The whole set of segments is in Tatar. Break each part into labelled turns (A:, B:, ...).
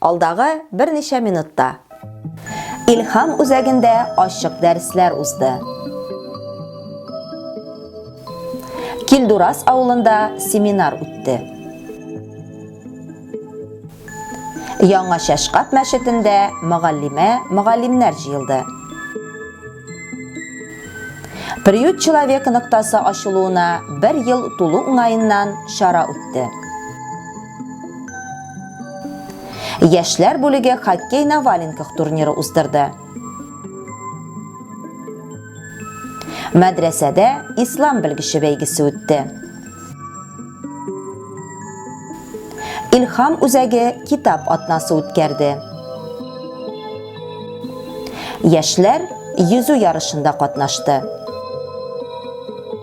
A: Алдагы берничә минутта. Илһам үзәгендә ачык дәресләр узды. Килдурас авылында семинар үтте. Яңа Шәшкап мәчетендә мөгаллимә, мөгаллимнәр җыелды. Приют человека ноктасы ачылуына бер ел тулу уңаеннан чара үтте. Яшьләр бүлеге хоккей на валенках турниры уздырды. Мәдрәсәдә ислам белгече бәйгесе үтте. Илхам үзәге китап атнасы үткәрде. Яшьләр йөзү ярышында катнашты.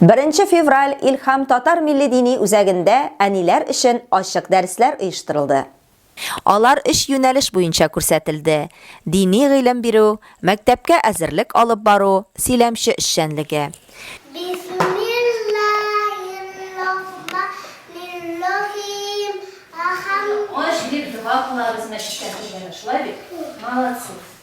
A: Беренче февраль Илхам татар милли дини үзәгендә әниләр өчен ачык дәресләр оештырылды. Алар өч юнәлеш буенча күрсәтелде, дини гыйлем бирү, мәктәпкә әзерлек алып бару, сөйләмче эшчәнлеге. Бисмиллаһиррахманиррахим. Ахам. Ач дип дога кылабыз мәчеткә килгәндә,
B: шулай бит? Молодцы.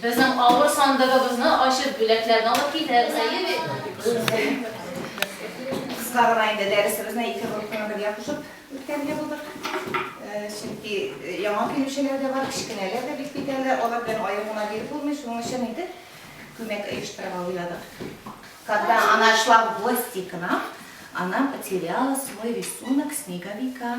B: Безнең
C: авыр сандыгыбызны ачып, бүләкләрне алып китәбез, әйе бит? Кыска гына инде дәресебезне ике группаны бергә кушып үткәрергә булдык. Чөнки яңа килүчеләр дә бар, кечкенәләр дә бик битәрләр, алар белән аерым гына биреп булмый, шуның өчен инде күмәк оештырырга уйладык. Когда она шла в гости к нам, она потеряла свой рисунок снеговика.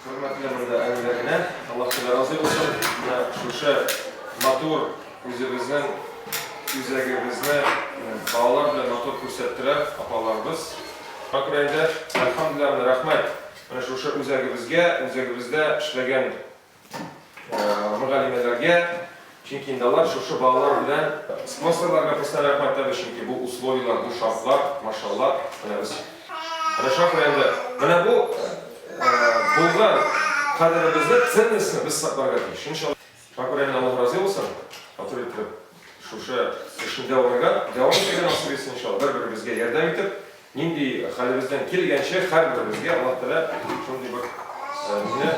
D: Хөрмәтле
E: монда әниләренә, Аллаһ Тәгалә разый булсын. Менә шушы матур үзебезнең үзәгебезне балалар белән матур күрсәттеләр апаларыбыз. Шакир әйдә, әлхәмдүлилләһ, рәхмәт. Менә шушы үзәгебезгә, үзәгебездә эшләгән мөгаллимәләргә, чөнки инде алар шушы балалар белән Спонсорларга кыстан рәхмәт әйтәбез, чөнки бу условияләр, бу шартлар, машалла, менә без Рәшат районында менә бу булган кадеребезне, ценностьны без сакларга тиеш. Шуның өчен Шакур әнә Аллаһ разый булсын, матур итеп шушы эшендә урынган, дәвам итәргә насыйп итсен иншалла, бер-беребезгә ярдәм итеп, Нинди хәлебездән килгәнчә һәрберебезгә Аллаһ Тәгалә шундый бер безне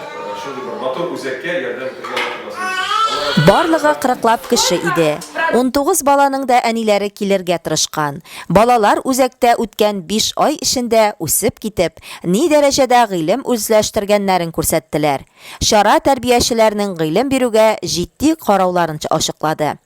E: шундый бер матур үзәккә ярдәм итәргә Аллаһ Тәгалә насыйп итсен. Алла рәхмәт. Барлыгы
A: кырыклап кеше иде. Унтугыз баланың да әниләре килергә тырышкан. Балалар үзәктә үткән биш ай эчендә үсеп китеп, ни дәрәҗәдә гыйлем үзләштергәннәрен күрсәттеләр. Чара тәрбиячеләрнең гыйлем бирүгә җитди карауларын ачыклады.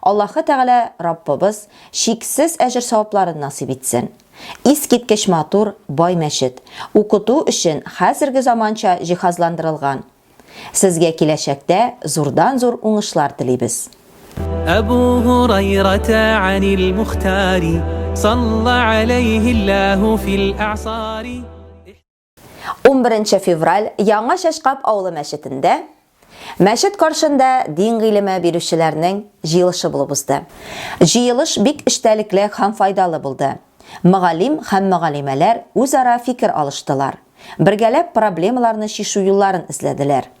A: Аллаһы Тәгалә Раббыбыз чиксез әҗер-савапларын насыйп итсен! Искиткеч матур, бай мәчет, укыту өчен хәзерге заманча җиһазландырылган. Сезгә киләчәктә зурдан-зур уңышлар телибез. Әбу
F: Һурайрата Анил Мухтари, салла аләйһи Аллаһу фил әгъсари. 11
A: февраль Яңа Чәчкап авылы мәчетендә Мәчет каршында дин гыйлеме бирүчеләрнең җыелышы булып узды. Җыелыш бик эчтәлекле һәм файдалы булды. Мөгаллим һәм мөгаллимәләр үзара фикер алыштылар. Бергәләп проблемаларны чишү юлларын эзләделәр.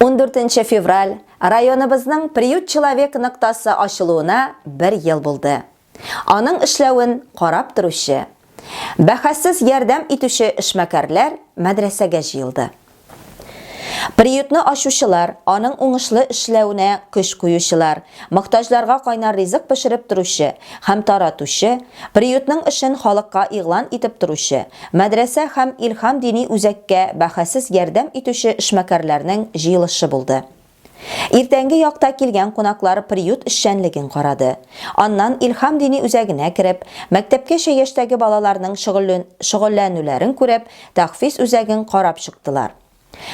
A: 14 февраль районыбызның Приют человек ноктасы ачылуына бер ел булды. Аның эшләвен карап торучы, бәхәссез ярдәм итүче эшмәкәрләр мәдрәсәгә җыелды. Приютны ачучылар, аның уңышлы эшләвенә көч куючылар, Мохтаҗларга кайнар ризык пешереп торучы һәм таратучы, приютның эшен халыкка игълан итеп торучы, мәдрәсә һәм Илһам дини үзәккә бәһасез ярдәм итүче эшмәкәрләрнең җыелышы булды. Иртәнге якта килгән кунаклар приют эшчәнлеген карады. Аннан Илһам дини үзәгенә кереп, мәктәпкәчә яшьтәге балаларның шөгыльләнүләрен күреп, тәхфиз үзәген карап чыктылар.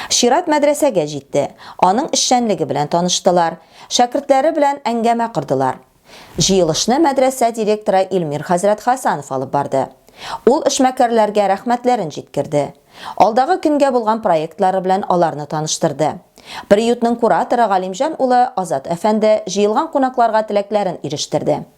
A: Чират мәдрәсәгә җитте. Аның эшчәнлеге белән таныштылар. Шәкертләре белән әңгәмә кордылар. Җыелышны мәдрәсә директоры Илмир хәзрәт Хәсанов алып барды. Ул эшмәкәрләргә рәхмәтләрен җиткерде. Алдагы көнгә булган проектлары белән аларны таныштырды. Приютның кураторы Галимҗан улы Азат әфәнде җыелган кунакларга теләкләрен ирештерде.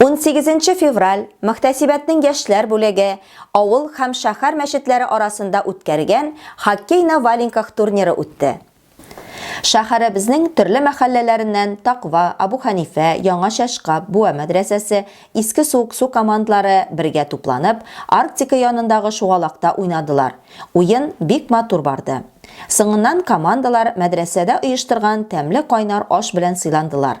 A: 18 нче февраль мөхтәсибәтнең яшьләр бүлеге авыл һәм шәһәр мәчетләре арасында үткәргән хоккей на валенках турниры үтте. Шәһәребезнең төрле мәхәлләләреннән Таква, Абу Хәнифә, Яңа Чәшкап, Буа мәдрәсәсе, Иске Суыксу командлары бергә тупланып, Арктика янындагы шугалакта уйнадылар. Уен бик матур барды. Соңыннан командалар мәдрәсәдә оештырган тәмле кайнар аш белән сыйландылар.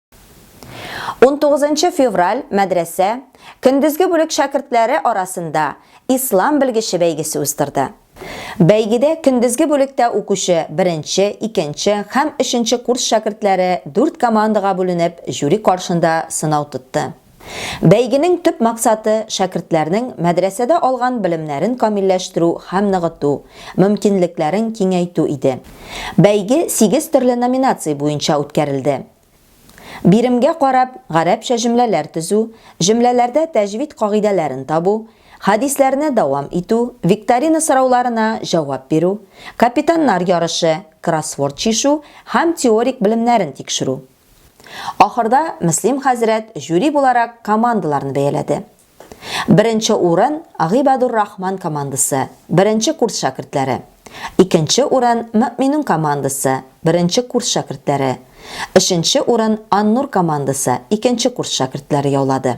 F: 19
A: февраль мәдрәсә көндезге бүлек шәкертләре арасында ислам белгече бәйгесе уздырды. Бәйгедә көндезге бүлектә укучы беренче, икенче һәм өченче курс шәкертләре дүрт командага бүленеп, жюри каршында сынау тотты. Бәйгенең төп максаты, шәкертләрнең мәдрәсәдә алган белемнәрен камилләштерү һәм ныгыту, мөмкинлекләрен киңәйтү иде. Бәйге сигез төрле номинация буенча үткәрелде. Биремгә карап, гарәпчә җөмләләр төзү, җөмләләрдә тәҗвид кагыйдәләрен табу, хәдисләрне дәвам итү, викторина сорауларына җавап бирү, капитаннар ярышы, кроссворд чишу һәм теорик белемнәрен тикшерү. Ахырда Мөслим хәзрәт жюри буларак командаларны бәяләде. Беренче урын, Гыйбадур Рахман командасы, беренче курс шәкертләре. Икенче урын, Мөэминун командасы, беренче курс шәкертләре. Өченче урын, Аннур командасы, икенче курс шәкертләре яулады.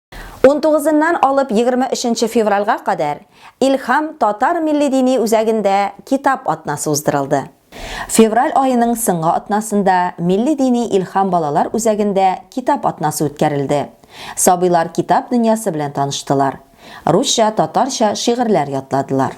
F: 19-ннан
A: алып 23 февральга кадәр Илхам татар милли дини үзәгендә китап атнасы уздырылды. Февраль аеның сыңгы атнасында милли дини Илхам балалар үзәгендә китап атнасы үткәрелде. Сабыйлар китап дөньясы белән таныштылар. Русча, татарча шигырьләр ятладылар.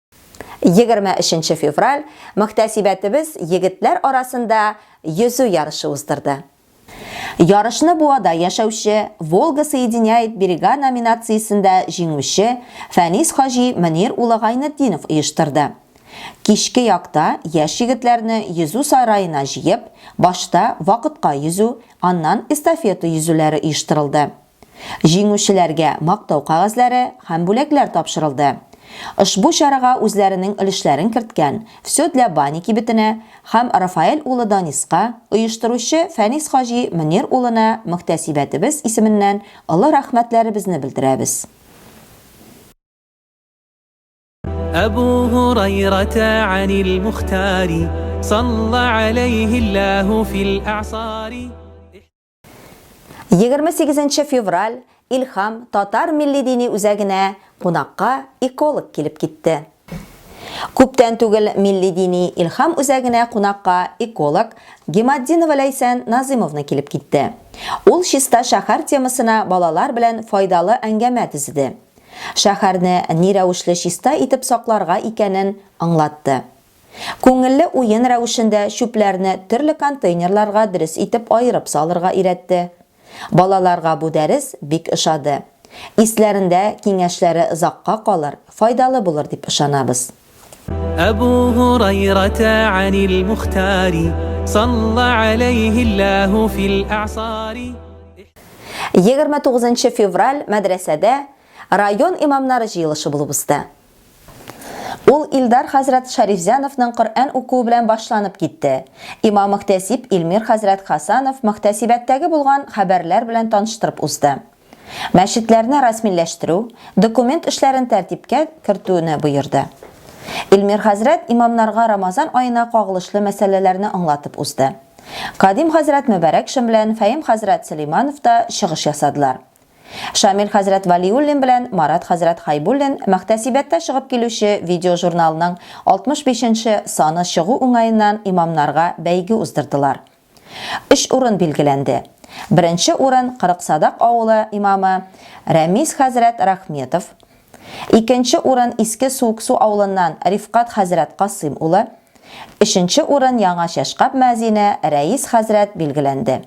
A: 23 нче февраль мөхтәсибәтебез егетләр арасында йөзү ярышы уздырды. Ярышны Буада яшәүче Волга соединяет берега номинациясендә җиңүче Фәнис хаҗи Мөнир улы Гайнетдинов оештырды. Кичке якта яшь егетләрне йөзү сараена җыеп, башта вакытка йөзү, аннан эстафета йөзүләре оештырылды. Җиңүчеләргә мактау кәгазьләре һәм бүләкләр тапшырылды. Ошбу чарага үзләренең өлешләрен керткән Всё для Бани кибетенә һәм Рафаэль улы Даниска, оештыручы Фәнис хаҗи Мөнир улына мөхтәсибәтебез исеменнән олы рәхмәтләребезне белдерәбез.
F: Әбү Һурайрата әнил Мухтари, салла аләйһи Аллаһу фил әгъсари. 28
A: февраль Илхам татар милли дини үзәгенә кунакка эколог килеп китте. Күптән түгел милли дини Илхам үзәгенә кунакка эколог Гематдинова Ләйсән Назымовна килеп китте. Ул чиста шәһәр темасына балалар белән файдалы әңгәмә төзеде. Шәһәрне ни рәвешле чиста итеп сакларга икәнен аңлатты. Күңелле уен рәвешендә чүпләрне төрле контейнерларга дөрес итеп аерып салырга өйрәтте. Балаларга бу дәрес бик ошады. Исләрендә, киңәшләре озакка калыр, файдалы булыр дип ышанабыз. Әбу
F: Һурайрата Анил Мухтари, салла аләйһи Аллаһу фил әгъсари. Егерме
A: тугызынчы февраль мәдрәсәдә район имамнары җыелышы булып узды. Ул Илдар хәзрәт Шәрифзяновның Коръән укуы белән башланып китте. Имам-мөхтәсиб Илмир хәзрәт Хасанов мөхтәсибәттәге булган хәбәрләр белән таныштырып узды. Мәчетләрне рәсмиләштерү, документ эшләрен тәртипкә кертүне боерды. Илмир хәзрәт имамнарга Рамазан аена кагылышлы мәсьәләләрне аңлатып узды. Кадим хәзрәт Мөбарәкшин белән Фәим хәзрәт Сөләйманов та чыгыш ясадылар. Шамил хәзрәт Вәлиуллин белән Марат хәзрәт Хәйбуллин Мөхтәсибәттә чыгып килүче видеожурналның 65 нче саны чыгу уңаеннан имамнарга бәйге уздырдылар. Өч урын билгеләнде. Беренче урын Кырыксадак авылы имамы Рәмис хәзрәт Рахметов, икенче урын Иске Суыксу авылыннан Рифкать хәзрәт Касыйм улы, өченче урын Яңа Чәшкап мөәзине Рәис хәзрәт билгеләнде.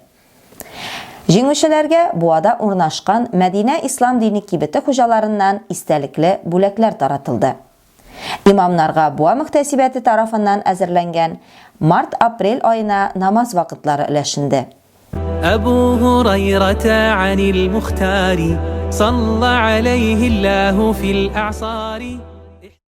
A: Җиңүчеләргә Буада урнашкан Мәдинә ислам дини кибете хуҗаларыннан истәлекле бүләкләр таратылды. Имамнарга Буа мөхтәсибәте тарафыннан әзерләнгән март-апрель аена намаз вакытлары өләшенде. Әбү
F: Һурайрата Анил Мухтари салла аләйһи Аллаһу фил әгъсари.